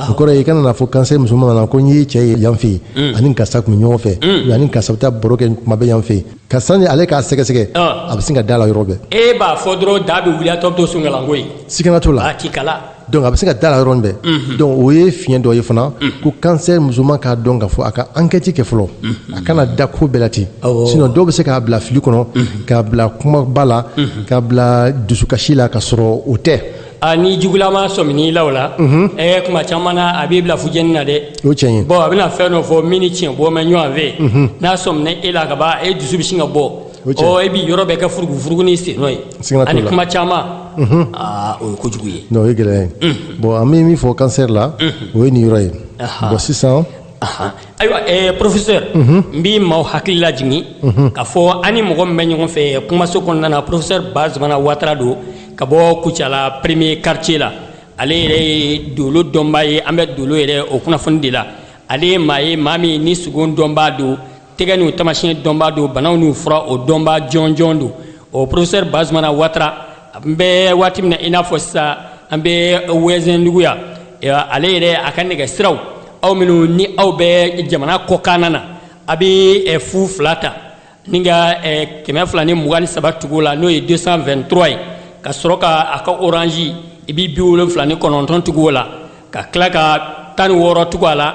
o kɔrɔ ye i kana n'a fɔ cancer musoman na ko n ye cɛ ye yan fɛ yen a ni karisa tun bɛ ɲɔgɔn fɛ ou a ni karisa bɛ taa baro kɛ tuma bɛɛ yan fɛ yen ka sani ale k'a sɛgɛsɛgɛ a bɛ sin ka d'a la yɔrɔ bɛɛ e b'a fɔ dɔrɔn da bɛ wuli a tɔ bɛ to sɔnkalanko ye sigana t'o la donc a bɛ se ka d'a la yɔrɔ bɛɛ donc o ye fiɲɛ dɔ ye fana ko cancer musoman k'a dɔn k'a fɔ a ka enquête kɛ fɔlɔ a kana da ko bɛɛ la ten sinon dɔw bɛ se k'a bila fili kɔnɔ k'a bila kumaba la k'a bila dusukasi la ka sɔrɔ o tɛ ni jugulama sɔmina i la o la ɛ tuma caman na a b'i bila fu jeni na dɛ o tiɲɛ ye bon a bɛna fɛn dɔ fɔ min ni tiɲɛ bɔlen ɲɔgɔn fɛ n'a sɔmina e la ka ban e dusu bɛ sin ka bɔ ɔ e bɛ yɔrɔ bɛɛ kɛ furugu furugu ni sen nɔ ye Siga t'o ani la. kuma caman aa o ye kojugu ye non o ye gɛlɛya ye bon an bɛ min fɔ cancer la o ye nin yɔrɔ ye Aha. bon sisan Ahan. ayiwa eh, professeur n b'i maaw hakili lajigin k'a fɔ an ni mɔgɔ min bɛ ɲɔgɔn fɛ eh, kumaso kɔnɔna na professeur bazumana watara don ka bɔ kucala premier quartier la ale yɛrɛ ye dolo dɔnbaa ye an bɛ dolo yɛrɛ o kunnafoni de la ale ye maa ye maa min ni sugo dɔnbaa don tɛgɛ n'u tamasiyɛn dɔnbaa don banaw n'u fura o dɔnbaa jɔnjɔn don o professeur bazumana watara an bɛ waati min na i n'a fɔ sisan an bɛ wɛzɛndugu yan ale yɛrɛ a ka nɛgɛ siraw aw minnu ni aw bɛ jamana kɔkanna na a bɛ fu fila ta ni ka kɛmɛ fila ni mugan ni saba tugu la n'o ye 223 ye ka sɔrɔ ka a ka orange i bɛ bi wolonfila ni kɔnɔntɔn tugu o la ka tila ka tan ni wɔɔrɔ tugu a la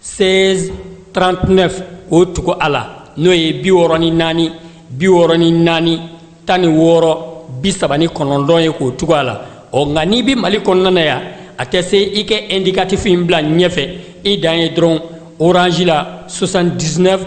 16 39 k'o tugu a la n'o ye bi wɔɔrɔ ni naani bi wɔɔrɔ ni naani tan ni wɔɔrɔ bi saba ni kɔnɔntɔn ye k'o tugu a la ɔ nka n'i bɛ mali kɔnɔna na yan a tɛ se i ka indicatif in bila ɲɛfɛ i dan ye dɔrɔn orange la 79